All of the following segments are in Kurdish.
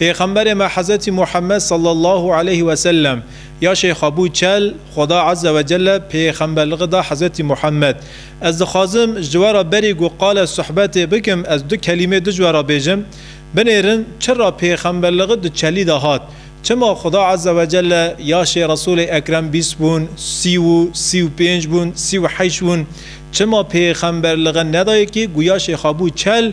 Pêxemberê me Hezretî Muhemmed salla Allahu aleyhi ve sellem ya Şeyxa bû çel, Xweda Azze ve Celle pêxemberlixi da Hezretî Muhemmed. Ez dixwazim ji we re berî ku qale suhbetê bikim ez du kelîmê duc we re bêjim, Binêrin çira pêxemberlixi di çelî de hat? Çima Xweda Azze ve Celle ya Şê Resulê Ekrem bîst bûn, sî û sî û pênc bûn, sî û heyşt bûn? Çima pêxemberlixi nedaye kî ku ya Şeyxa bû çel,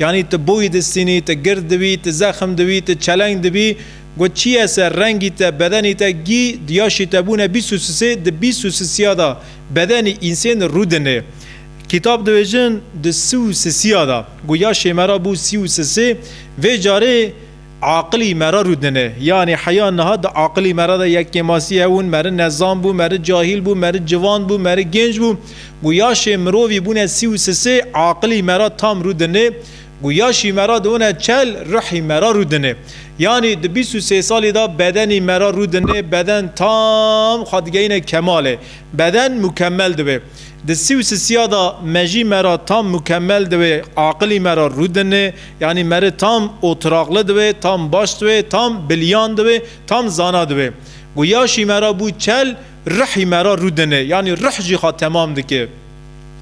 Yanî tu boyî distînî, tu gird dibî, tu zexm dibî, tu çeleng dibî, got çîyê ser rengî te, bedenî te, gî diyaşî te bûne bîst û sisê, di bîst û sisîya da bedenî însên rû dinê. Kîtab dibêjin di si û sisîya da, got yaşê me ra bû sî û sisê, vê carê, Aqilî me re rûdine. Yanî heya niha di aqilî me re de yek kêmasî hebûn, meri nezan bû, meri cahîl bû, meri civan bû, meri gênc bû. Ku yaşê mirovî bûne sî û sisê, aqilî me re tam rûdine. Ku yaşî me re dibûne çel, ruhî me re rûdine. Yanî di bîst û sê salî de bedenî me re rûdine, beden tam xwe digeyîne kemalê. Beden mukemel dibe. Di sî û sisiya de me jî me ra tam mukemel diwê, aqilî me ra rû dinê, yanî me ri tam otiraqli diwê, tam baş diwê, tam biliyan diwê, tam zana diwê. Ku yaşî me ra bû çel, ruhî me ra rû dinê, yanî ruh jî xwe temam dike.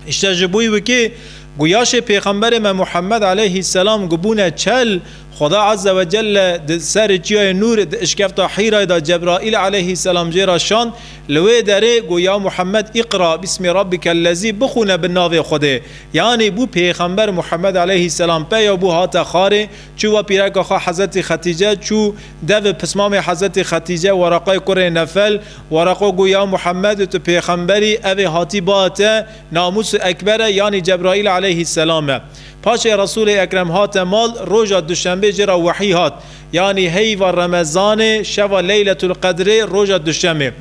Îşte ji bo wê ku yaşê pêxemberê me Muhemmed eleyhî selam ku bûne çel, Xuda Azze ve Celle di serê Çiyayê Nûrê di işkevta Hîrayê de Cebraîl aleyhî selam jê re şand, li wê derê got ya Muhammed îqra bîsmî rabbikel lezî bixwîne bi navê Xwedê. Yanî bû pêxember Muhammed aleyhî selam peya bû hate xarê, çû va pîreka xwe Hezretî Xetîce, çû devê pismamê Hezretî Xetîce Weraqayê kurê Nefel, Weraqa got ya Muhammed tu pêxemberî, evê hatî ba te, namûs û ekber e, yanî Cebraîl aleyhî selam e. Paşê Resûlê Ekrem hate mal, roja duşenbê jê re wehî hat, yanî heyva remezanê, şeva leyletul qedrê, roja duşemê.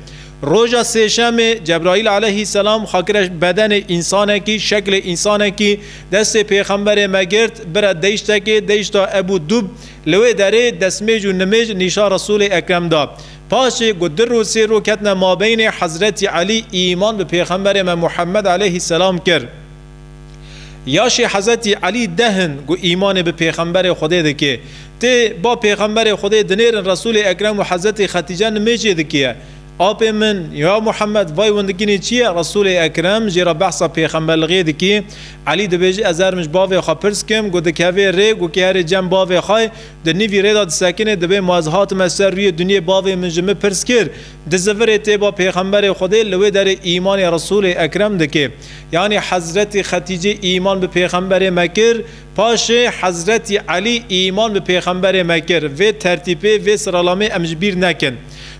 Roja sêşemê Cebraîl aleyhîsselam xakire bedenê însanekî, şeklê însanekî, destê pêxemberê me girt, bire deyştekê, deyşta Ebû Dûb, li wê derê desmêj û nimêj nîşa Resûlê Ekrem da. Paşê ku dir û sêro ketine mabeynê, Hezretî Elî îman bi pêxemberê me Muhemmed aleyhîsselam kir. Yaşê Hezetî Elî deh in ku îmanê bi Pêxemberê Xwedê dike. Tê ba Pêxemberê Xwedê dinêrin Resûlê Ekrem û Hezetî Xetîce nimêjê dikiye. Apê min, ya Muhemed, vay windikînê çi ye? Resûlê Ekrem jê re behsa pêxemberlixiyê dikî. Elî dibêje ez erm ji bavê xwe pirs kim ku dikevê rê ku kê herê cem bavê xwe di nîvî rê de disekinê dibê ma ez hatime ser rûyê dinyê bavê min ji min pirs kir di zivirê tê ba Pêxemberê Xwedê li wê derê îmanê Resûlê Ekrem dike. Yanî Hezretî Xetîcê îman bi pêxemberê me kir, paşê Hezretî Elî îman bi pêxemberê me kir. Vê tertîpê, vê siralamê em ji bîr nekin.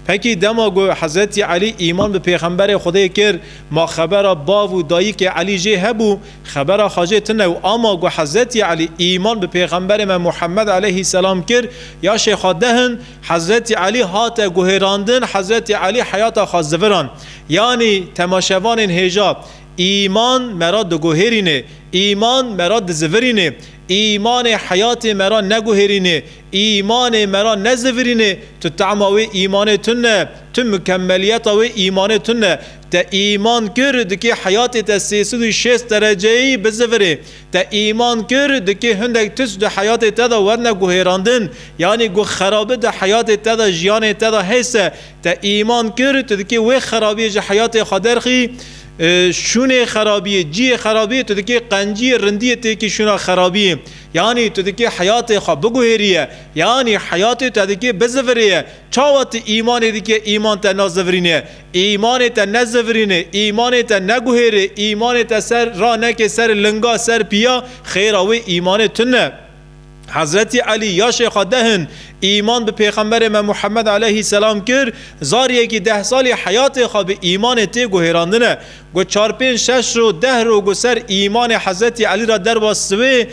Pekî dema ku Hezretî Elî îman bi pêxemberê Xwedê kir, ma xebera bav û dayikê Elî jê hebû, xebera xwe jê tune û ama ku Hezretî Elî îman bi pêxemberê me Muhemmed eleyhîsselam kir, ya şêxa dehin, Hezretî Elî hate guhêrandin, Hezretî Elî heyata xwe ziviran. Yanî temaşevanên hêja, Îman me ra diguhêrînê, îman me ra dizivirînê, îmanê heyatê me ra neguhêrînê, îmanê me ra nezivirînê, tu tama wê îmanê tune, tu mikemeliyeta wê îmanê tune. Te îman kir dikê heyatê te sê sed û şêst dereceyî bizivirê. Te îman kir dikê hindek tis di heyatê te de werne guhêrandin, yanî guh xerabi di heyatê te de, jiyanê te de hese. Te îman kir, tu dikê wê xerabiyê ji heyatê xwe derxî, şûnê xerabiyê, ciyê xerabiyê, tu dikê qenciyê, rindiyê têkî şûna xerabiyê. Yanî tu dikê heyatê xwe biguhêrîye, yanî heyatê te dikê bizivirêye. Çawa tu îmanê dikê îman te nazivirîne? Îmanê te nezivirîne, îmanê te neguhêrê, îmanê te ser ranekê ser linga, ser pîya, xêra wê îmanê tune. Hezretî Elî ya Şêxa Dehin îman bi Pêxemberê me Muhemmed aleyhîsselam kir, zariyekî deh salî heyatê xwe bi îmanê tê guhêrandine. Got çar-pênc şeş roj deh rog û ser îmanê Hezretî Elî re derwa siwê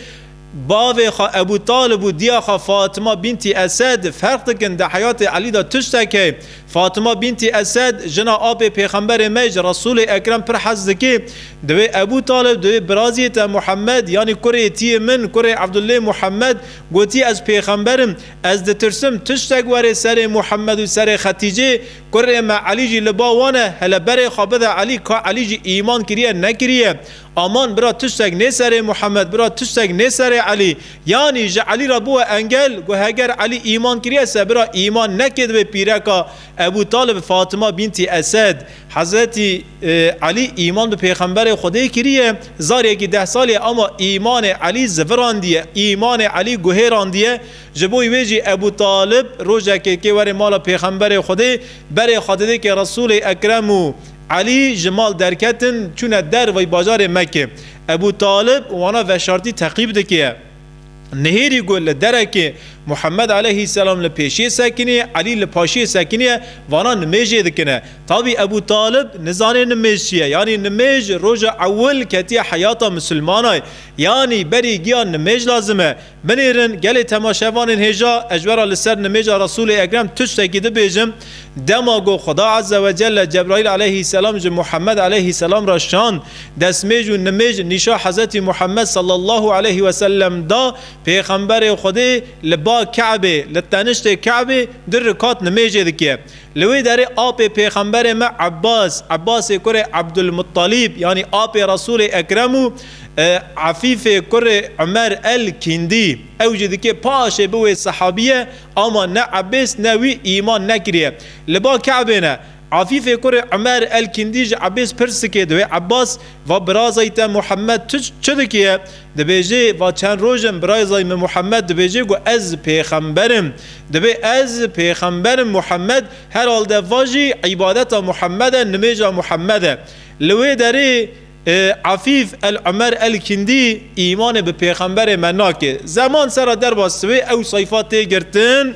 bavê xwe Ebû Talib û diya xwe Fatima bîntî Esed ferq dikin di heyatê Elî de tiştek heye Fatima bîntî Esed, jina apê Pêxemberê me ji Resûlê Ekrem pir hez dike, Divê Ebû Talib divê biraziyê te Muhemmed yanî kurê tiyê min, kurê Ebdullê Muhemmed, gotî ez pêxember im, ez ditirsim tiştek were serê Muhemmed û serê Xeticê, kurê me Elî jî li ba wan e, hele berê xwe bide Elî ka Elî jî îman kiriye nekiriye. Aman bira tiştek nê serê Muhammed, bira tiştek nê serê Elî. Yanî ji Elî re bûye engel, ku heger Elî îman kiriye se bira îman nekê divê pîreka Ebû Talib Fatima bîntî Esed. Hezretî Elî îman bi pêxemberê Xwedê kiriye, zaryekî deh salî ye ama îmanê Elî zivirandiye, îmanê Elî guhêrandiye. Ji bo wê jî Ebû Talib rojekê kê were mala pêxemberê Xwedê, berê xwe didê kê Resûlê Ekrem û Elî ji mal derketin çûne der vay bajarê Mekê. Ebû Talib wana veşartî teqîb dikiye. Nihêrî ku li derekê Muhemed aleyhîsselam li pêşiyê sekiniye, Elî li paşiyê sekiniye, vana nimêjê dikine. Tabî Ebû Talib nizanê nimêj çi ye. Yanî nimêj roja ewil ketiye heyata misilmanay. Yanî berî giya nimêj lazim e. Binêrin gelê temaşevanên hêja ez ji we re li ser nimêja Resûlê Ekrem tiştekî dibêjim, dema ku Xuda Azze ve Celle Cebraîl Aleyhî Selam ji Muhammed Aleyhî Selam re şand, destmêj û nimêj nîşa Hezretî Muhammed Sallallahu Aleyhî Ve Sellem da, Pêxemberê Xwedê li ba Ke'bê, li teniştê Ke'bê di rikat nimêjê dike. Li wê derê apê Pêxemberê me Ebbas, Ebbasê kurê Ebdulmuttalîb yanî apê Resûlê Ekrem û, Afîfê kurê Umer el Kîndî, ew jî dikê paşê bi wê sehabîye, ama ne Ebês ne wî îman nekiriye. Li ba Kabê ne. Afîfê kurê Umer el Kîndî ji Ebês pirs dikê, di wê Ebas va birazayî te Muhemed tu çi dikiye? Dibêjê va çend roj in birazayî min Muhemed dibêjê ku ez pêxember im. Dibê ez pêxember im Muhemed herhalde va jî îbadeta Muhemed e nimêja Muhemed e. Li wê derê. Afîf El Umer El Kîndî, Îmanê bi pêxemberê me nake. Zeman sera derbas wê ew sayfa tê girtin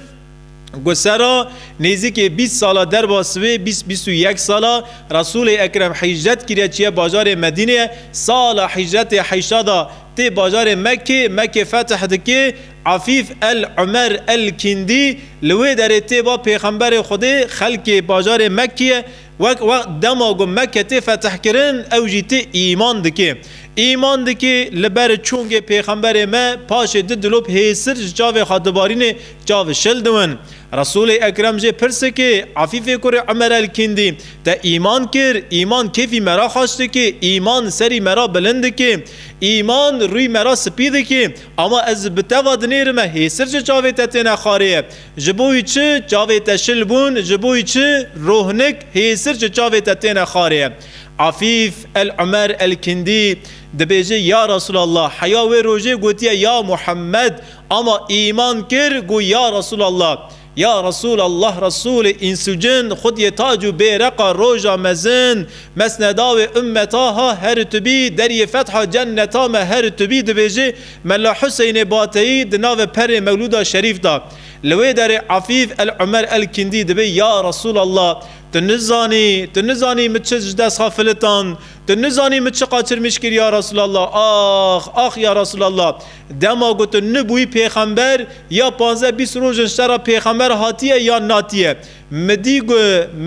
ku sera nêzîkê bîst sala derbas wê bîst bîst û yek sala Resûlê Ekrem hîcret kiriye çiye bajarê Medînê sala hîcretê heyşada tê bajarê Mekkê Mekkê fetih dike Afîf El Umer El Kîndî li wê derê tê ba pêxemberê Xwedê xelkê bajarê Mekkê Wek wext dema ku Mekke tê fetihkirin ew jî tê îman dikê. Îman dikê li ber çungê pêxemberê me paşê du dilop hêsir ji çavê xwe dibarînê çav şil diwin. Resûlê Ekrem jê pirsikê Efîfê kurê Umer el Kîndî te îman kir, îman kêfî me ra xaş dikê, îman serî me ra bilind dikê, îman rûyê me ra spî dikê, ama ez bi te va dinêrime hêsir ji çavê te têne xarê ye. Ji bo wî çi çavê te şil bûn, ji bo wî çi rohnik hêsir ji çavê te têne xarê. Afîf el Umer el Kindî dibêje, Ya Resûlallah, heya wê rojê gotiye ya Muhemmed, ama îman kir got ya Resûlallah, ya Resûlallah Resûlê îns û cin, xwediyê tac û bêreqa roja mezin, mesneda wê ummeta ha her tu bî, deriyê fetha cenneta me her tu bî dibêje, Mela Huseynê Bateyî di navê perê Mewlûda Şerîf de li wê derê Afîf El Umer El Kîndî dibê Ya Resûlallah tu nizanî, tu nizanî min çi ji dest xwe filitand, tu nizanî min çi qaçirmîş kir Ya Resûlallah, ax, ax Ya Resûlallah dema ku tu nibûyî pêxember ya panzdeh bîst roj in ji te re pêxember hatiye yan natiye mi dî ku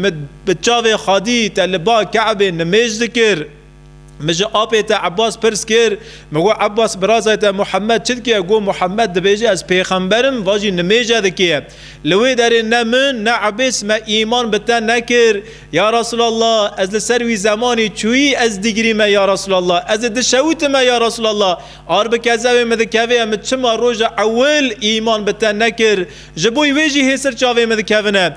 min bi çavê xwedî te li ba Keebê nimêj dikir. Min ji apê te Ebbas pirs kir, min got Ebbas birazayê te Muhemed çi dike? Got Muhemed dibêje ez pêxember im, va jî nimêje dike. Li wê derê ne min ne Ebbas me îman bi te nekir. Ya Resûlallah ez li ser wî zemanî çûyî ez dîgirî me ya Resûlallah ez ê dişewitime ya Resûlallah ar bi kezewê min dikevê em çima roja ewil îman bi te nekir ji bo wê jî hêsir çavê min dikevine.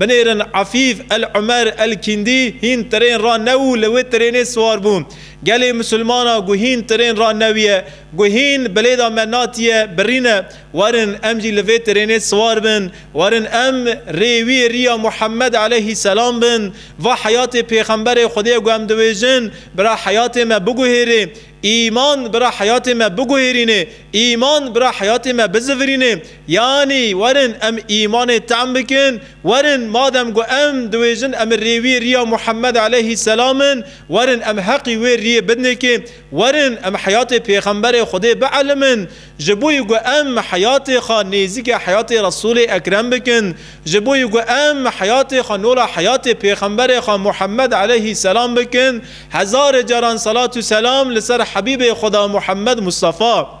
Binêrin Efîf El Umer El Kîndî hîn tirên ra new û li wê tirênê siwar bû. Gelê Musulmanan ku hîn tirên ra new ye, ku hîn bilêda me natiye, birîne. Werin em jî li vê tirênê siwar bin. Werin em rê wî riya Muhammed Eleyhî Selam bin. Va heyatê Pêxemberê Xwedê ku em diwêjin, bira heyatê me biguhêrê. Îman bira heyatê me biguhêrînê, îman bira heyatê me bizivirînê. Yanî werin em îmanê tem bikin, werin madem ku em diwêjin em rê wî riya Muhammed eleyhî selam in, werin em heqî wê riyê bidnêkê, werin em heyatê pêxemberê Xwedê bielmin, Ji bo yi ku em heyatê xwe nêzîkê heyatê Resûlê Ekrem bikin, ji bo yi ku em heyatê xwe nola heyatê Pêxemberê xwe Muhemmed eleyhî selam bikin, hezarê caran selat û selam li ser Hebîbê Xweda Muhemmed Mustafa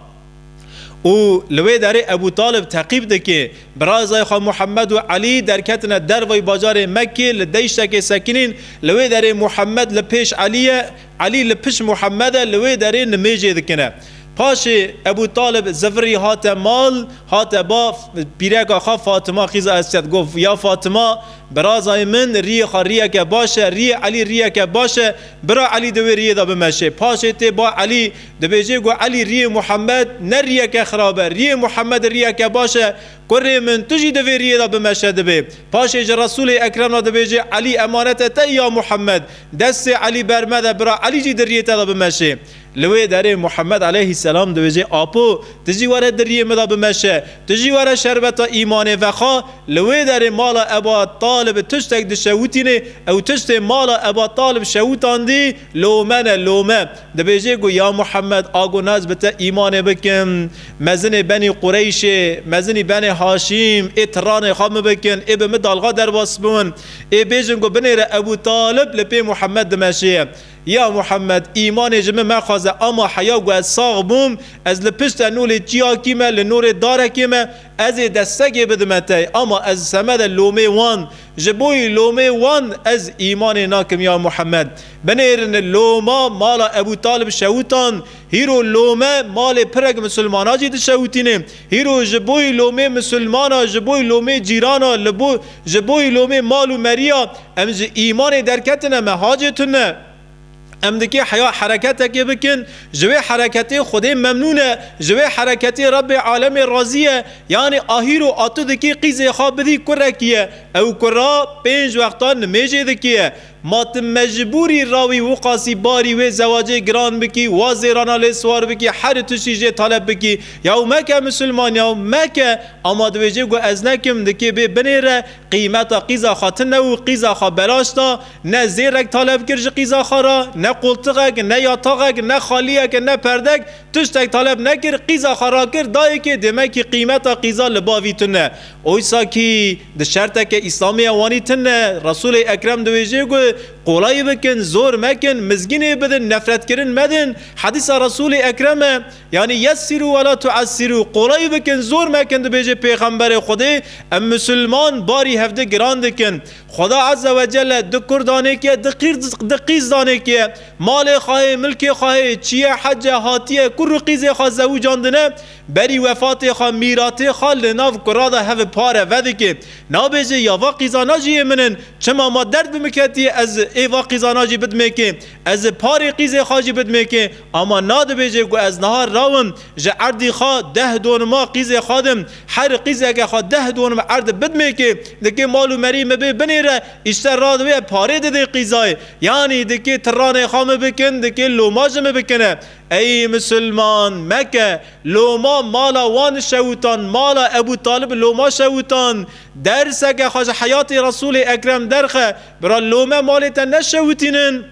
û li wê derê Ebû Talib teqîb dike. Birazayê xwe Muhemmed û Elî derketine derveyî bajarê Mekkê li deîştekê sekinîn, li wê derê Muhemmed li pêş Elî ye, Elî li pişt Muhemed e li wê derê nimêjê dikine. Paşê Ebû Talib zivirî hate mal, hate ba pîreka xwe Fatima xîza Esed got, Ya Fatima, birazayê min rîyê xwe rîyeke baş e, rîyê Elî rîyeke baş e, bira Elî di wê rîyê de bimeşê. Paşê tê ba Elî, dibêjê ku Elî rîyê Muhemed ne rîyeke xirab e, rîyê Muhemedî rîyeke baş e, Kurê min tu jî di vê riyê de bimeşe dibê. Paşê ji Resûlê Ekrem re dibêje Elî emanete te ya Muhemed. Destê Elî ber mede bira Elî jî di riyê te de bimeşê. Li wê derê Muhemed aleyhîsselam dibêje Apo tu jî were di riyê min de bimeşe. Tu jî were şerbeta îmanê vexa. Li wê derê mala Eba Talib bi tiştek dişewitînê. Ew tiştê mala Eba Talib şewitandî lome ne lome. Dibêje ku ya Muhemed a ku nas bi te îmanê bikim. Mezinê benî Qureyşê, mezinî benê Haşîm, ê tiranê xwe min bikin, ê bi min dalga derbas bin, ê bêjin ku binêre Ebû Talib li pê Muhammed dimeşê. Ya Muhammed, îmanê ji min mexwaze ama heya ku ez sax bûm, ez li piştê nûlê çiyakî me, li nûrê darekê me, ez ê destekê bidime te, ama ez semede lomê wan. Ji bo yî lomê wan ez îmanê nakim ya Muhammed. Binêrin loma mala Ebû Talib şewtan, Hîro lome malê pirek misilmana jî dişewitîne. Hîro ji boî lomê misilmana, ji boî lomê cîrana, li bo ji boî lomê mal û meriya em ji îmanê derketine me hacê tune. Em dikê heya hereketekê bikin, ji wê hereketê Xwedê memnûn e, ji wê hereketê Rebbê alemê razî ye. Yanî a hîro a tu dikê qîzê xwe bidî kurekî ye. Ew kura pênc wextan nimêjê dikê ye. Ma tu mecbûrî rawî Wuqasî barî wê zewacê giran bikî, wa zêrana lê siwar bikî, herî tiştî jê taleb bikî. Yaw meke misilman, yaw meke! Ama dibêjê ku ez ne kim, di kê bê binê re, qîmeta qîza xwe ti ne û qîza xwe belaş da, ne zêrek taleb kir ji qîza xwe re, ne qoltiqek, ne yataxek, ne xaliyek, ne perdek, tiştek taleb nekir, qîza xwe rakir dayê kê dê me kî qîmeta qîza li bavî tune. Oysa kî di şerteke Îslamî ya wanî tine, Resûlê Ekrem diwêjê ku, Qolayî bikin, zor mekin, mizgînê bidin, nefretkirin medin, hedîsa Resûlê Ekrem e. Yanî yessirû we la tu'essirû, qolayî bikin, zor mekin dibêje pêxemberê Xwedê, em misilman barî hevdi giran dikin. Xweda Ezze we Celle di kur danekî ye, di qîr di qîz danekî ye. Malê xwe heye, milkê xwe heye, çiye, hece, hatiye, kur û qîzê xwe zewicandine, Berî wefatê xwe mîratê xwe li nav kura de hev pare vedike. Nabêje ya va qîzana jî yê min in, çima ma derd bi min ketiye ez ê va qîzana jî bidimêkê. Ez parê qîzê xwe jî bidimêkê. Ama na dibêje ku ez niha rawim ji erdî xwe deh donima qîzê xwe din. Her qîzeke xwe deh donim erd bidimêkê dikê mal û merî min bê binê re îşter radibe parê didê qîzayê. Yanî dikê tiranê xwe min bikin dikê loma ji min bikine. Ey misilman, meke, loma mala wan şewitan, mala Ebû Talib loma şewitan, derseke xwe ji heyatê Resûlê Ekrem derxe, bira lome malê te neşewitînin,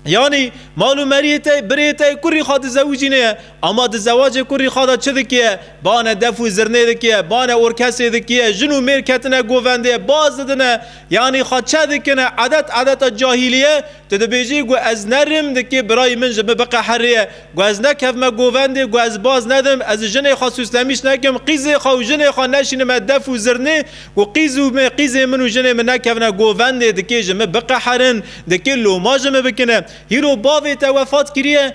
yanî mal û meriyê te, birê te ku rîxa dizewicînê ye, ama di zewacê ku rîxa de çi dikiye, bane def û zirnê dikiye, bane orkesê dikiye, jin û mêr ketine govendê, baz didine, yanî xwe çe dikine, edet edeta cahîlîye, Tu dibêjî ku ez ne rîm dikî birayî min ji min biqehirîye, ku ez nekevme govendê, ku ez baz nedim, ez jinê xwe sûslemîş nekim, qîzê xwe û jinê xwe neşînime def û zirnê, ku qîz û me qîzê min û jinê min nekevne govendê, dikê ji min biqehirin, dikê loma ji min bikine. Hîro bavê te wefat kirîye?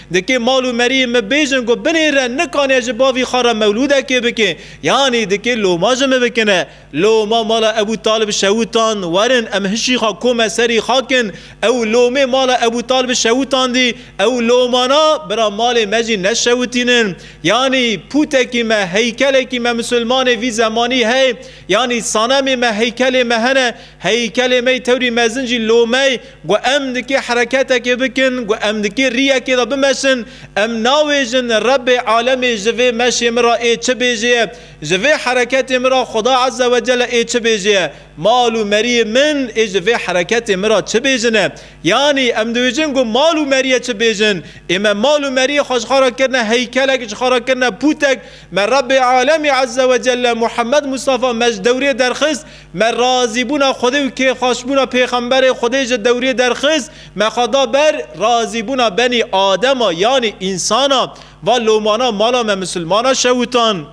Dikê mal û meriyê min bêjin ku binêre nikane ji bavî xwe re mewlûdekê bikin, yanî dikê loma ji min bikine. Loma mala Ebû Talib şewûtan, werin em hişî xwe kome serî xakin. Ew lomê mala Ebû Talib şewûtandî, ew lomana bira malê me jî neşewitînin. Yanî pûtekî me, heykelekî me misilmanê vî zemanî hey, yanî sanemê me heykelê me hene, Heykelê mey tewrî mezin jî lomey ku em nikê hereketekê bikin, ku em nikê rîyekê de bimeşin, em navêjin Rebê alemê ji vê meşê min re ê çi bêjê ye, ji vê hereketê min re Xuda Eze we Cele ê çi bêjê ye, mal û meriyê min ê ji vê hereketê min re çi bêjin e. Yanî em dibêjin ku mal û meriyê çi bêjin. Ê me mal û meriyê xwe ji xwe re kirine heykelek, ji xwe re kirine pûtek, me Rebê alemê Eze we Cele Muhammed Mustafa me ji dewrê derxist, Me razîbûna Xwedê û kêfxweşbûna pêxemberê Xwedê ji dewriyê derxist, me xwe da ber razîbûna benî adema yanî însanan. Va lomanan mala me misilmanan şewitan.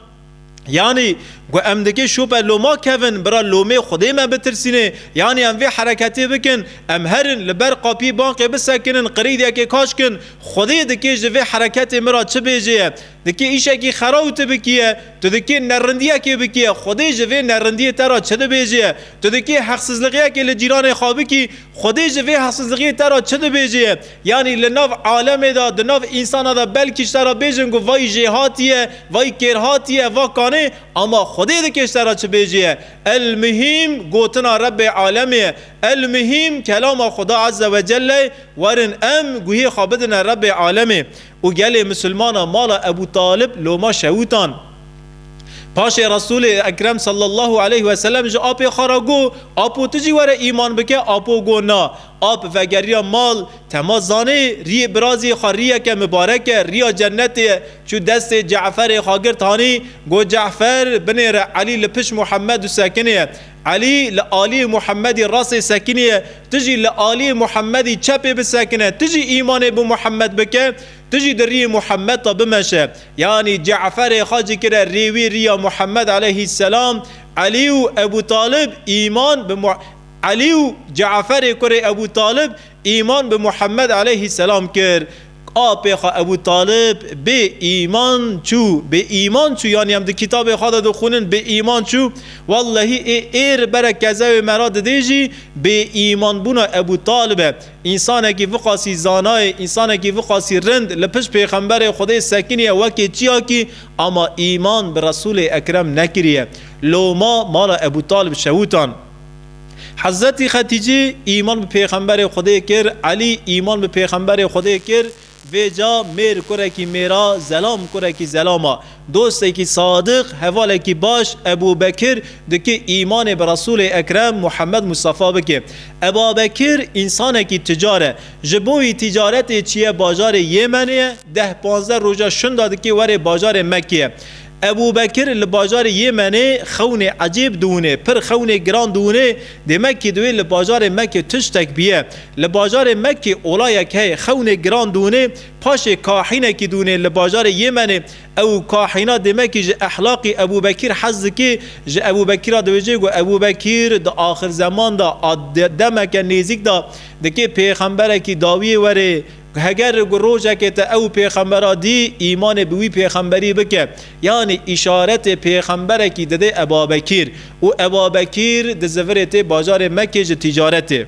Yanî ku em dikê şoper loma kevin, bira lomê Xwedê me bitirsînê. Yanî em vê hereketê bikin, em herin li ber qapiyê banqê bisekinin, qirîdiyekê kaşkin, Xwedê dikê ji vê hereketê min ra çi bêjê ye? Dikê îşekî xera û ti bikîye, tu dikê nerindîyekê bikîye, Xwedê ji vê nerindîyê te ra çi dibêjîye? Tu dikê heqsizlixîyekê li cîranê xwe bikî, Xwedê ji vê heqsizlixîyê te ra çi dibêjîye? Yanî li nav alemê de, di nav însana de belkî ji te ra bêjin ku vay jêhatîye, vay kêrhatîye, va kanê, ama Xwedê dikê ji te ra çi bêjîye? El-muhîm gotina Rebbê alemê ye. El-muhîm kelama Xweda Ezzewecelle ye, werin em guhê xwe bidine Rebbê alemê. Û gelê misilmana mala Ebû Talib loma şewûtan. Paşê Resûlê Ekrem sallallahu aleyh ve selem ji apê xwe re got, Apo tu jî were îman bike? Apo got, Na. Ap vegeriya mal, tema zanê, rîyê birazê xwe rîyeke mibarek e, rîya cennetê ye. Çû destê Ce'ferê xwe girt hanî, got, Ce'fer, binêre Elî li pişt Muhemmed û sekinê ye. Elî li aliyê Muhemedî resê sekinî ye, tu jî li aliyê Muhemedî çepê bisekine, tu jî îmanê bi Muhemed bike, tu jî di riyê Muhemed de bimeşe. Yanî Ce'ferê xwe cikire rê wî riya Muhemed eleyhîsselam, Elî û Ebû Talib îman bi Elî û Ce'ferê kurê Ebû Talib îman bi Muhemed eleyhîsselam kir. Apê xwe Ebû Talib bê îman çû, bê îman çû yanî em di kitabê xwe de dixwînin bê îman çû. Wellehî ê êr bere kezewê me re didê jî bê îmanbûna Ebû Talib e. Însanekî viqasî zanayê, însanekî viqasî rind li pişt pêxemberê Xwedê sekiniye wekê çiyakî ama îman bi Resûlê Ekrem nekiriye. Loma mala Ebû Talib şewûtan. Hezretî Xetîcî îman bi pêxemberê Xwedê kir, Elî îman bi pêxemberê Xwedê kir, vê ca mêr kurekî mêr a, zelam kurekî zelam a. Dostekî sadiq, hevalekî baş Ebû Bekir dike îmanê bi Resûlê Ekrem Muhammed Mustafa bike. Eba Bekir însanekî ticar e. Ji bo wî tîcaretê çiye bajarê Yêmenê ye, deh panzdeh roja şinda dike were bajarê Mekkeyê. Ebûbekir li bajarê Yêmenê xewnê ecêb diwinê, pir xewnê giran diwinê, dê Mekkî divê li bajarê Mekkê tiştek biye. Li bajarê Mekkê olayek heye xewnê giran diwinê, paşê kahînekî diwinê li bajarê Yêmenê. Ew kahîna dê Mekkî ji ehlaqî Ebûbekir hez dikê, ji Ebûbekir re dibêje ku Ebûbekir di axirzeman de a demeke nêzîk de dikê pêxemberekî dawiyê were, Heger ku rojekê te ew pêxembera dî, îmanê bi wî pêxemberî bike, yanî îşaretê pêxemberekî didê Ebabekîr û Ebabekîr di zivirê tê bajarê Mekkê ji tîcaretê.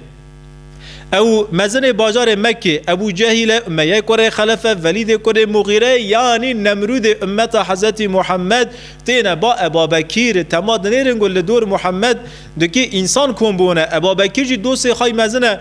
Ew mezinê bajarê Mekkê, Ebû Cehîl e, Umeyeyê kurê Xelef e, Velîdê kurê Mugîre ye, yanî Nemrûdê ummeta Hezretî Muhemmed têne ba Ebabekîr, tema dinêrin ku li dor Muhemmed dikê însan kom bûne. Ebabekîr jî dostê xwe mezin e.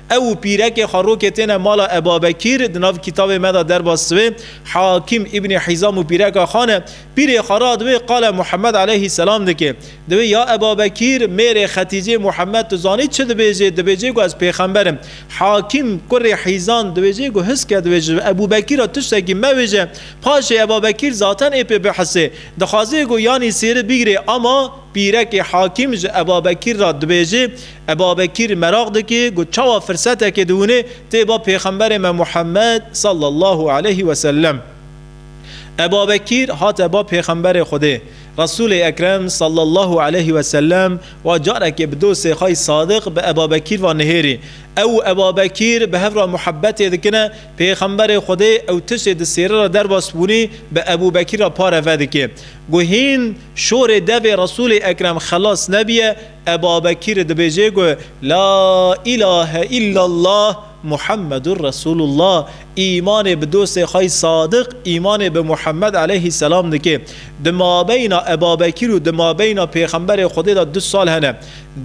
Ew û pîrekê xwe rokê têne mala Ebabekîr, di nav kîtabê me de derbas divê, Hakîm Îbnî Hîzam û pîreka xwe ne, pîrê xwe ra di wê qala Muhemmed aleyhî selam dike. Di wê ya Ebabekîr, mêrê Xetîcê Muhemmed tu zanî çi dibêje, dibêje ku ez pêxember im. Hakîm, kurê Hîzan, dibêje ku hiske dibêje ji Ebûbekîr ra tiştekî mewêje. Paşê Ebabekîr zaten ê pê bihisê. Dixwaze ku yanî sêri bigirê ama. Pîrekê Hakîm ji Ebabekîr ra dibêje, Ebabekîr meraq dike ku çawa firsetekê di winê tê ba pêxemberê me Muhammed sallallahu aleyhi ve sellem. Ebabekîr hate ba pêxemberê Xwedê. Resûlê Ekrem sallallahu aleyhi ve sellem wa carekê bi dostê xwe yî Sadiq bi Ebabekîr va nihêrî. Ew û Ebabekîr bi hev ra muhebetê dikine, pêxemberê Xwedê ew tiştê di sêre ra derbas bûnî bi Ebûbekîr ra pare vedike ku hîn Şorê devê Resûlê Ekrem xelas nebîye, Ebabekîrî dibêjê ku La îlahe îllallah Muhammedûr Resûlullah, îmanê bi dostê xwe yî Sadiq îmanê bi Muhammed eleyhîsselam dike. Di mabeyna Ebabekîr û di mabeyna Pêxemberê Xwedê de du sal hene.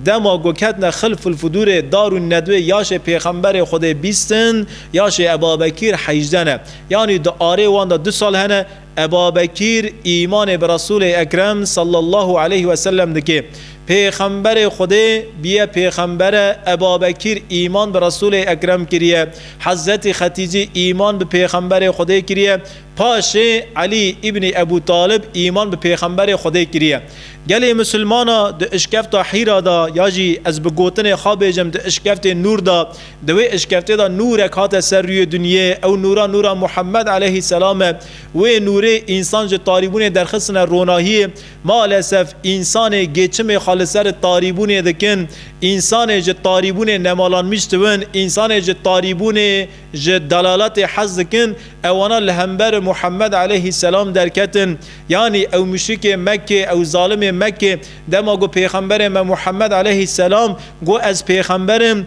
Dema ku ketine Xilfulfudûrê Darûn Nedwê yaşê Pêxemberê Xwedê bîst in, yaşê Ebabekîr hejdeh ne. Yanî di arê wan de du sal hene. Ebabekîr îmanê bi Resûlê Ekrem sallallahu aleyh ve sellem dike. Pêxemberê Xwedê bûye pêxember e, Ebabekîr îman bi Resûlê Ekrem kiriye, Hezretî Xetîcî îman bi pêxemberê Xwedê kiriye, paşê Elî îbnî Ebû Talib îman bi pêxemberê Xwedê kiriye. Gelê Musulmana di Îşkefta Hîra de ya jî ez bi gotinê xwe bêjim di Îşkeftê Nûr de Di wê eşkeftê de nûrek hate ser rûyê dinyê, ew nûra nûra Muhemmed eleyhî selam e. Wê nûrê însan ji tarîbûnê derxistine ronahiyê. Malesef însanê gêçimê xwe li ser tarîbûnê dikin. Însanê ji tarîbûnê nemalanmîş diwin, însanê ji tarîbûnê ji delaletê hez dikin, ewana li hember Muhemmed eleyhî selam derketin. Yanî ew muşrikê Mekkê, ew zalimê Mekkê dema got pêxemberê me Muhemmed eleyhî selam got ez pêxember im,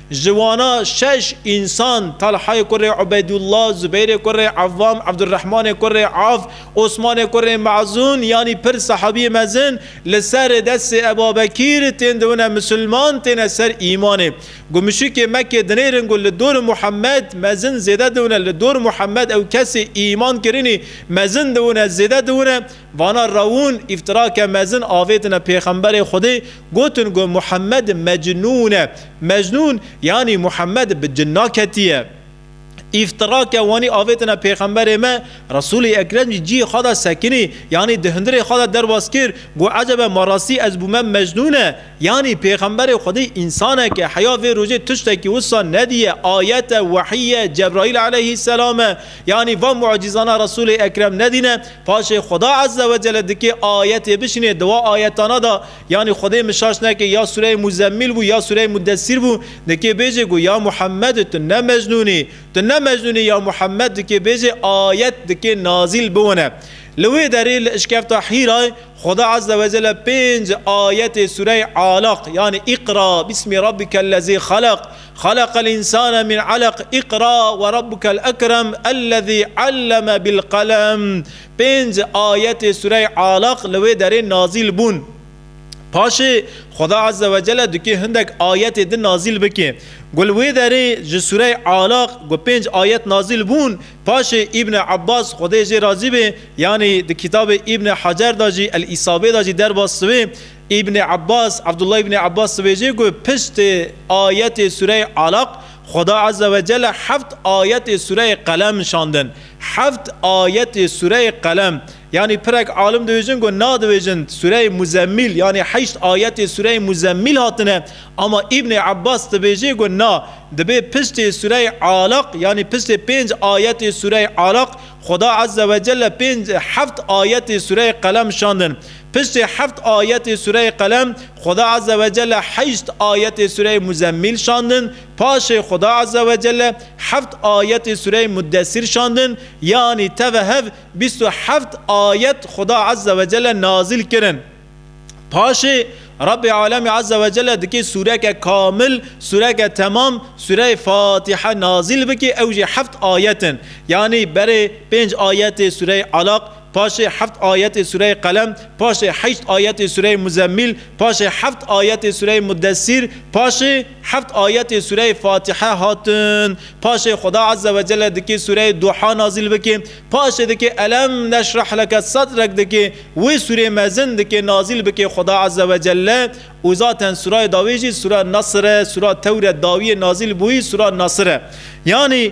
Ji wana şeş însan, Talhayê kurê Ubeydullah, Zubeyrê kurê Ewam, Ebdurehmanê kurê Avf, Osmanê kurê Mezûn yanî pir sehabiyê mezin li ser destê Ebabekîr tên dibine misilman, têne ser îmanê. Ku muşrikê Mekkê dinêrin ku li dor Muhemed mezin zêde dibine, li dor Muhemed ew kesê îman kirinî mezin dibine zêde dibine, Vana rewûn îftirake mezin avêtine Pêxemberê Xwedê, gotin ku Muhemmed mecnûn e. Mecnûn yanî Muhemmed bi cinna ketiye. Îftirake wanî avêtine Pêxemberê me, Resûlê Ekrem jî cihê xwe de sekinî yanî di hundirê xwe de derbas kir ku ecebe ma rastî ez bûme mecnûn e yanî Pêxemberê Xwedê însanek e. Heya vê rojê tiştekî wisa nediye. Ayet e, wehî ye, Cebraîl eleyhîsselam e. Yanî van mucîzana Resûlê Ekrem nedîne. Paşê Xuda Ezze ve Celle dikê ayetê bişinê, di wa ayetana de yanî Xwedê min şaş nekê ya sûreyê Muzemmîl bû ya sûreyê Mudessîr bû, dikê bêjê ku ya Muhemmed tu ne Mecnûn î, tu ne Mecnûn î ya Muhemmed dikê bêjê ayet dikê nazîl biwine. Li wê derê li Îşkefta Hîrayê Xuda Ezze ve Celle pênc ayetê sûreyê Alaq yanî Îqra bîsmî rabbîkellezî xelaq, Xeleqel insane min aleq Îqra we rabbukel ekrem ellezî alleme bil qelem Pênc ayetê sureyê Alaq li wê derê nazîl bûn. Paşê Xweda Ezze ve Celle dikê hindek ayetê din nazîl bike. Ku li wê derê ji sureyê Alaq ku pênc ayet nazîl bûn, paşê Îbne Abbas Xwedê ê jê razî be, yanî di kitabê Îbne Hecer de jî, El-Îsabê de jî derbas dibe, Îbnê Abbas, Abdullah Îbnê Abbas dibêje ku piştî ayetê sûreyê Alaq, Xweda Azze ve Celle heft ayetê sûreyê Qelem şandin. Heft ayetê sûreyê Qelem. Yanî pirek alim dibêjin ku na dibêjin sûreyê Muzemmîl yanî heşt ayetê sûreyê Muzemmîl hatine ama Îbnê Abbas dibêje ku na, dibê piştê sûreyê Alaq yanî piştê pênc ayetê sûreyê Alaq, Xweda Azze ve Celle pênc heft ayetê sûreyê Qelem şandin. Piştî heft ayetê sureyê Qelem, Xuda Azze ve Celle heşt ayetê sureyê Muzemmîl şandin, paşê Xuda Azze ve Celle heft ayetê sureyê Muddesîr şandin, yanî teve hev bîst û heft ayet Xuda Azze ve Celle nazîl kirin. Paşê Rabbê Alemî Azze ve Celle dikê sûreke kamil, sûreke temam, sûreyê Fatîhe nazîl bikê, ew jî heft ayet in. Yanî berê pênc ayetê sûreyê Alaq, Paşê heft ayetê sureyê Qelem, paşê heşt ayetê sureyê Muzemmîl, paşê heft ayetê sureyê Mudessîr, paşê heft ayetê sureyê Fatihe hatin. Paşê Xuda Azze ve Celle dikê sureyê Duha nazîl bikê. Paşê dikê Elem neşrah leke sadrek dikê. Wê surê mezin dikê nazîl bikê Xuda Azze ve Celle û zaten surayê dawê jî sura Nasr e, sura Tewret dawiyê nazîl bûyî sura Nasr e. Yanî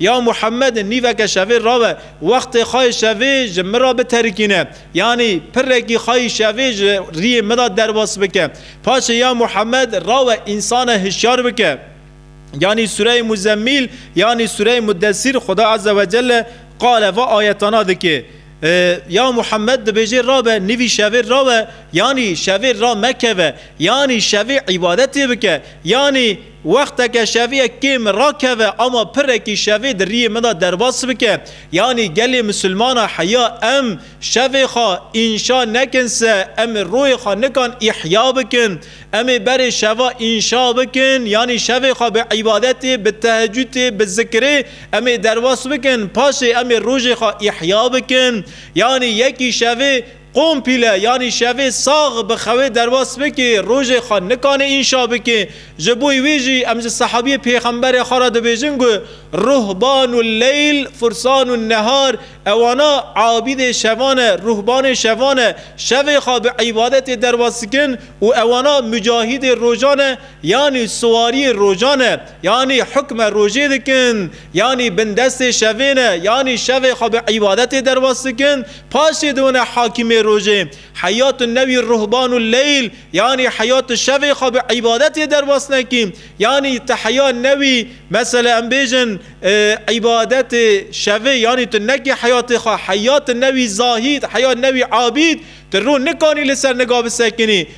Ya Muhemmed nîveke şevê rawe, wextê xwe yê şevê ji min re biterikîne, yanî pirekî xwe yê şevê ji riyê min re derbas bike. Paşê ya Muhemmed rawe însanan hişyar bike. Yanî Sûreyê Muzemmîl yanî Sûreyê Muddesîr Xuda Eze we Celle qale va ayetana dike. Ya Muhemmed dibêje rabe nîvî şevê rawe, yanî şevê ra mekeve, yanî şevê îbadetê bike, yanî. Wexteke şeviyek kêm min rakeve ama pirekî şevê di riyê min de derbas bike. Yanî gelê misilmana heya em şevê xwe înşa nekin se em ê royê xwe nikan îhya bikin. Em ê berê şeva înşa bikin yanî şevê xwe bi îbadetê, bi tehecûtê, bi zikirê em ê derbas bikin paşê em ê rojê xwe îhya bikin. Yanî yekî şevê. Kompîle yanî şevê sax bi xewê derwas bikê, rojê xwe nikanê înşa bikê. Ji bo wê jî em ji sehabiyê pêxemberê xwe re dibêjin ku, Ruhbanu leyl fursanu nehar, ewana abîdê şevan e, ruhbanê şevan e, şevê xwe bi îbadetê derwas dikin û ewana mucahîdê rojan e, yanî siwariyê rojan e, yanî hukme rojê dikin, yanî bindestê şevê ne, yanî şevê xwe bi îbadetê derwas dikin, Pasê di wina hakîmê rojê, heyat û newî ruhban û leyl, yanî heyat û şevê xwe bi îbadetê derbas nekî. Yanî ti heya newî, mesela em bêjin îbadetê şevê, yanî tu nekî heyatê xwe, heyat newî zahîd, heya newî abîd, tu rû nikanî li ser niga bisekinî.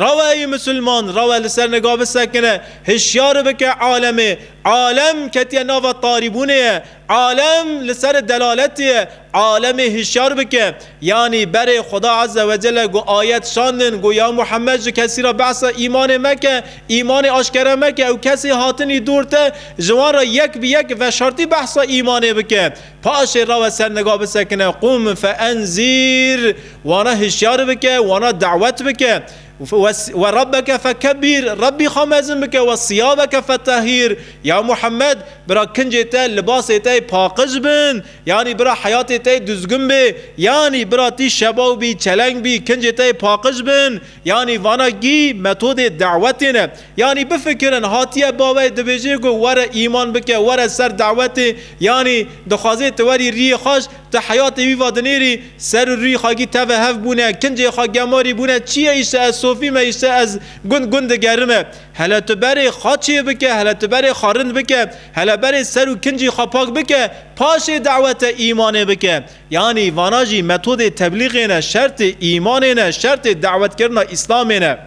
Rawe ey misilman, rawe li ser nika bisekine, hişyar bike alemê. Alem ketiye nava tarîbûnê ye, alem li ser delaletê ye, alemê hişyar bike. Yanî berê Xweda Ezze Wecelle ku ayet şandin ku ya Muhemmed ji kesî re behsa îmanê meke, îmanê aşkere meke û kesê hatinî dûr te ji wan re yek bi yek veşartî behsa îmanê bike. Paşê rawe ser niga bisekine qûm fe enzîr, wana hişyar bike, wana dawet bike, we Rabbeke fe kebîr, Rabbî xwe mezin bike, we siyabeke fe tehîr, ya Muhammed, bira kincê te libasê te yê paqij bin, yanî bira heyatê te yê duzgin bê, yanî bira tî şebaw bî, çeleng bî, kincê te yê paqij bin, Yanî vana gî metodê dewetê ne. Yanî bifikirin hatiye baweyê dibêjê ku were îman bike, were ser dewetê, yanî dixwazê tu werî rîyê xwe ji tu heyatê wî va dinêrî, ser û rî xwe gî teve hev bûne, kincê xwe gemarî bûne, çi ye îşte ez sofî me, îşte ez gund gund digerime. Hele tu berê xwe çêbike, hele tu berê xwe rind bike, hele berê ser û kincî xwe pak bike, paşê dewete îmanê bike. Yanî vana jî metodê teblîgê ne, şertê îmanê ne, şertê dawetkirina Îslamê ne.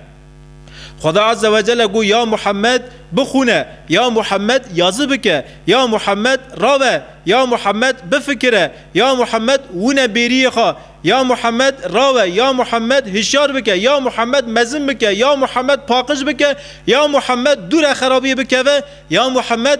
Xweda Azze ve Celle got, Ya Muhammed, bixwune, ya Muhammed, yazi bike, ya Muhammed, rabe, ya Muhammed, bifikire, ya Muhammed, wune bêriyê xwe, ya Muhammed, rawe, ya Muhammed, hişyar bike, ya Muhammed, mezin bike, ya Muhammed, paqij bike, ya Muhammed, dûre xerabiyê bikeve, ya Muhammed,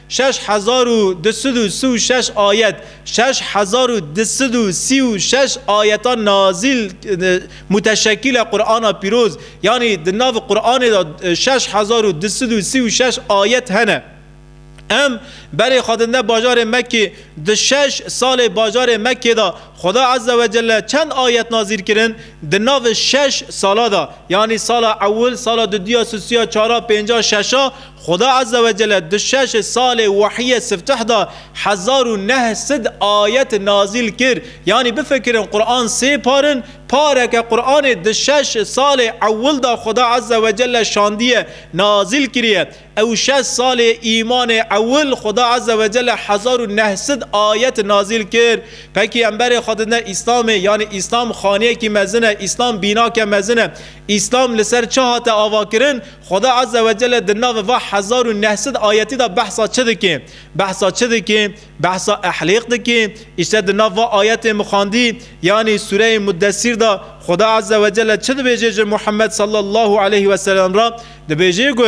Şeş hezar û du sed û si û şeş ayet Şeş hezar û du sed û sî û şeş ayeta nazîl muteşekîl e Qur'ana Pîroz, yanî di nav Qur'anê de şeş hezar û du sed û sî û şeş ayet hene. Em berê xwe din de bajarê Mekkê, di şeş salê bajarê Mekkê de Xuda Eze we Celle çend ayet nazîl kirin di nav şeş sala de, yanî sala ewil, sala dudiya, susiya, çara, pênca, şeşa, Xuda Azze ve Celle di şeş salê wehyê sifteh de hezar û neh sid ayet nazîl kir. Yanî bifikirin Quran sê par in, pareke Quranê di şeş salê ewil de Xuda Azze ve Celle şandiye, nazîl kiriye. Ew şeş salê îmanê ewil Xuda Azze ve Celle hezar û neh sid ayet nazîl kir. Pekîyemberê xwe di ne Îslamê yanî Îslam xaniyekî mezin e, Îslam bînake mezin e. Îslam li ser çi hate avakirin? Xweda Azze ve Celle di navê va hezar û neh sed ayetî de behsa çi dike? Behsa çi dike? Behsa ehlêq dike. Îşte di nav va ayetên min xwendî yanî sûreyê Muddesîr de Xweda Azze ve Celle çi dibêje ji Muhemmed sallallahu aleyh ve sellem re? Dibêje ku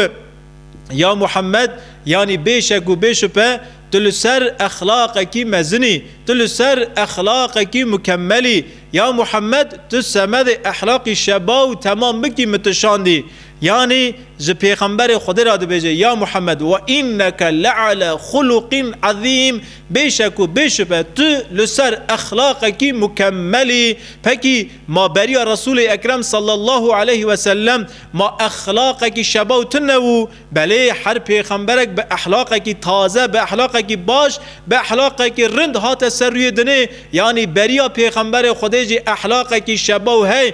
Ya Muhemmed yanî bê şek û bê şupe tu li ser exlaqekî mezin î, tu li ser exlaqekî mukemel î. Ya Muhemmed tu semedê ehlaqî şeba û temam bikî min tu şandî. Yanî ji pêxemberê Xwedê re dibêje, Ya Muhammed we înneke le'ale xuluqîn ezîm, bêşek û bêşupe tu li ser exlaqekî mukemel î. Pekî ma beriya Resûlê Ekrem sallallahu aleyh wesellem ma exlaqekî şebaw tune wû. Belê her pêxemberek bi ehlaqekî taze, bi ehlaqekî baş, bi ehlaqekî rind hate ser rûyê dinê. Yanî beriya pêxemberê Xwedê jî ehlaqekî şebaw hey.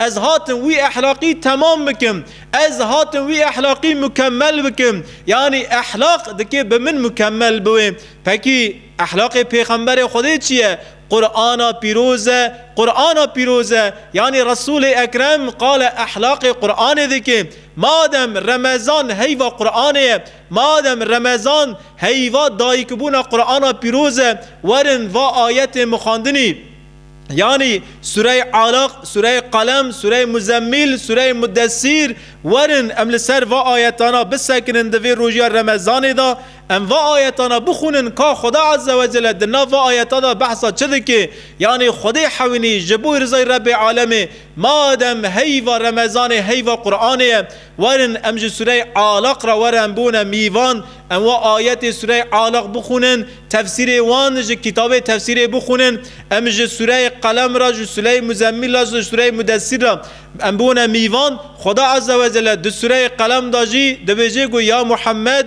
Ez hatim wî ehlaqî temam bikim, ez hatim wî ehlaqî mukemel bikim, yanî ehlaq dikê bi min mukemel biwê. Pekî ehlaqê Pêxemberê Xwedê çi ye? Qur'ana pîroz e, Qur'ana pîroz e, yanî Resûlê Ekrem qale ehlaqê Qur'anê dikê. Madem Remezan heyva Qur'anê ye, madem Remezan heyva dayikbûna Qur'ana pîroz e, werin va ayetê min xwendinî. Yanî Sûreyê Alaq, Sûreyê Qelem, Sûreyê Muzemmîl, Sûreyê Mudesîr, werin em li ser va ayetana bisekinin di vê rojiya Remezanê de, em va ayetana bixwînin ka Xweda Azze we Celle di nav va ayeta de behsa çi dike, yanî Xwedê hewînî ji bo rizay Rebbê Alemê, madem heyva Remezanê heyva Quranê ye, Werin em ji Sureyê Alaq re were em bûne mîvan, em wa ayetê Sureyê Alaq bixwînin, tefsîrê wan ji kitabê tefsîrê bixwînin, em ji Sureyê Qelem re, ji Sureyê Muzemmil re, ji Sureyê Mudessîr re em bûne mîvan, Xweda Ezzewecelle di Sureyê Qelem de jî dibêje ku, Ya Muhemmed!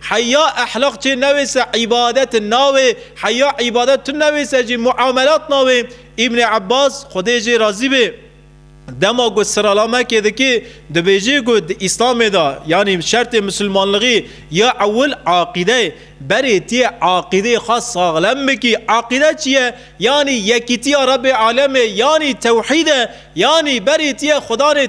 Heya ehlaq çê newê se îbadet navê, heya îbadet tu newê se jî muamelat navê. Îbnê Ebas, Xwedê jê razî bê, dema ku sirala Mekê dikê, dibêjê ku di Îslamê de yanî şertê misilmanlixî ya ewil aqîde ye. Berê tu yê aqîdeyê xwe saxlem bikî. Aqîde çi ye? Yanî yekîtiya Rebê Alemê yanî tewhîd e, yanî berî tiye Xwedanê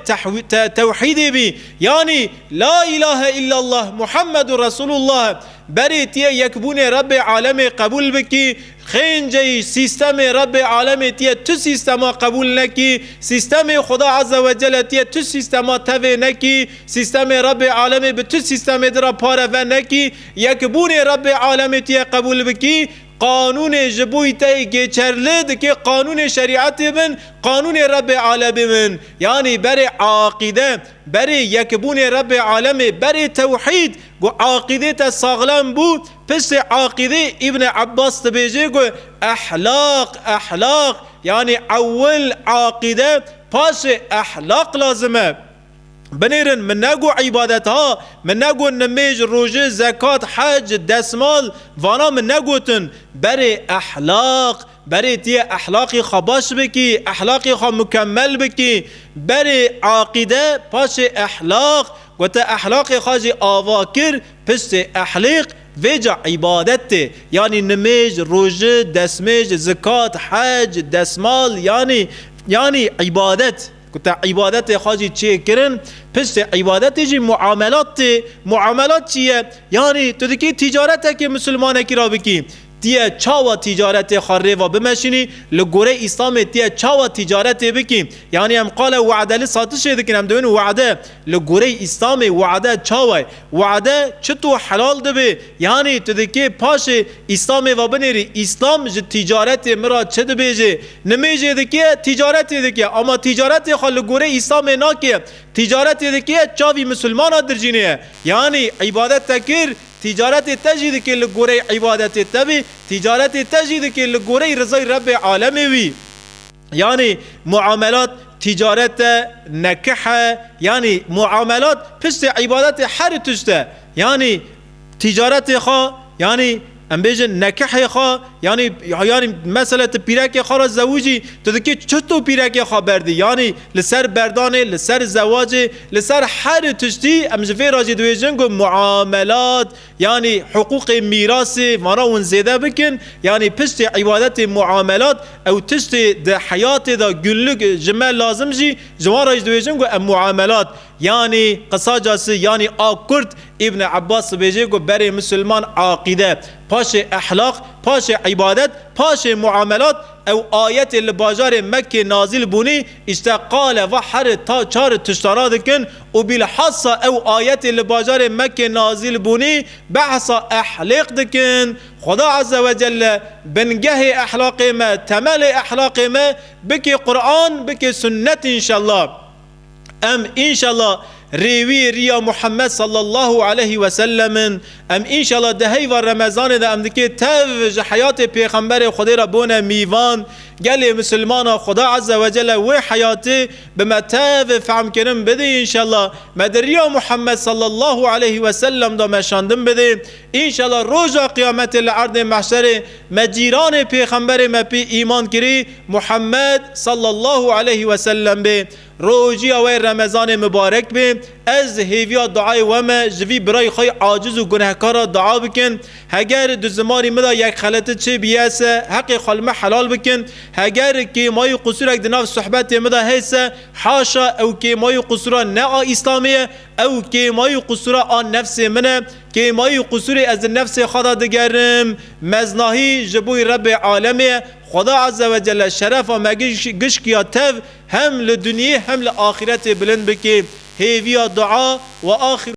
tewhîdî bî, yanî La îlahe îllallah Muhammedu Resûlullah e. Berî tiye yekbûnê Rebê Alemê qebûl bikî, xênceyî sîstemê Rebê Alemê tiye tu sîstema qebûl nekî, sîstemê Xweda Eze Wecele tiye tu sîstema tevê nekî, sîstemê Rebê Alemê bi tu sîstemê di re pare venekî, yekbûnê Rebê Alemê tiye qebûl bikî, Qanûnê ji bo tey gêçer li dikê qanûnê şerîetê bin, qanûnê Rebbê Alemê bin. Yanî berê aqîde, berê yekbûnê Rebbê Alemê, berê tewhîd. Ku aqîdê te saxlem bû, piştê aqîdê Îbne Ebbas dibêje ku ehlaq, ehlaq, yanî ewil aqîde paşê ehlaq lazim e. Binêrin min negot îbadet ha, min negot nimêj, rojê, zekat, hec, desmal, vana min negotin. Berê ehlaq, berê tu yê ehlaqê xwe baş bikî, ehlaqê xwe mukemel bikî. Berê aqîde, paşê ehlaq, ku tu ehlaqê xwe jî ava kir, piştê ehliq, vê ca îbadet tê. Yanî nimêj, roji, desmêj, zikat, hec, desmal, yanî, yanî îbadet. Ku te îbadetê xwe jî çê kirin, piştê îbadetê jî muamelat tê. Muamelat çi ye? Yanî tu dikî tîcaretekê misilmanekî re bikî. Ti ye çawa tîcaretê xwe rêva bimeşînî, li gorî Îslamê ti ye çawa tîcaretê bikî. Yanî em qala we'deli satişê dikin, em dibin we'de. Li gorî Îslamê we'de çawa ye? We'de çi to helal dibe, Yanî tu dikê paşê îslamê ve binêrî, îslam ji tîcaretê min re çi dibêje? Nimêjê dikê tîcaretê dike ama tîcaretê xwe li gorî îslamê nake. Tîcaretê dike çavî misilmana dirjînê ye. Yanî îbadet te kir, tîcaretê te jî dikê li gorî îbadetê te bî, tîcaretê te jî dikê li gorî rizay Rebbê alemê wî. Yanî muamelat tîcaret e, nekih e, yanî muamelat piştê îbadetê herî tişt e. Yanî tîcaretê xwe, yanî em bêjin nekihê xwe, yanî yanî mesele tu pîrekê xwe re zewicî, tu dikî çito pîrekê xwe berdî. Yanî li ser berdanê, li ser zewacê, li ser herî tiştî em ji vê re jî dibêjin ku muamelat, Yanî hiqûqê mîrasê vana wan zêde bikin, yanî piştê îbadetê muamelat ew tiştê di heyatê de gunluk ji me lazim jî ji wan re jî dibêjin ku em muamelat yanî qisaca si yanî a kurt Îbn Ebas dibêje ku berê misilman aqîde paşê ehlaq paşê îbadet paşê muamelat ew ayetê li bajarê Mekkê nazîl bûnî îşte qale va heri ta çari tiştana dikin û bîlhassa ew ayetê li bajarê Mekkê nazîl bûnî behsa ehlêq dikin, Xweda Eze we Celle bingehê ehlaqê me, temelê ehlaqê me bikê Quran, bikê Sunnet înşella. Em înşella rêwî riya Muhammed sallallahu aleyhi ve sellem in. Em înşella di heyva Remezanê de em dikê tev ji heyatê Pêxemberê Xwedê re bone mîvan. Gelê misilmana Xweda Eze we Celle wê heyatê Bi me tev fehmkirin bidî înşellah. Me di riya Muhammed sallallahu aleyhi ve sellem de meşandin bidê. Înşellah roja qiyametê li erdê mehşerê me cîranê pêxemberê me pî îman kirî Muhammed sallallahu aleyhi ve sellem bê. Rojiya wê remezanê mibarek bê. Ez hêviya duayê we me ji vî birayê xwe yê aciz û gunehkar re dua bikin. Heger di zimanê min de yek xeleti çêbî ez se heqê xwe li me helal bikim, heger kêmayî qusûrek di nav suhbetê min de hê se haşa ew kêmayî qusûra ne a îslamê ye, ew kêmayî qusûra a nefsê min e, kêmayî qusûrê ez di nefsê xwe de digerim. Meznahî ji bo Rebbê alemê ye, Xweda Ezzewecelle şerefa me gişkiya tev hem li dunyê hem li axîretê bilind bike. Hêviya dua, Wa axîru.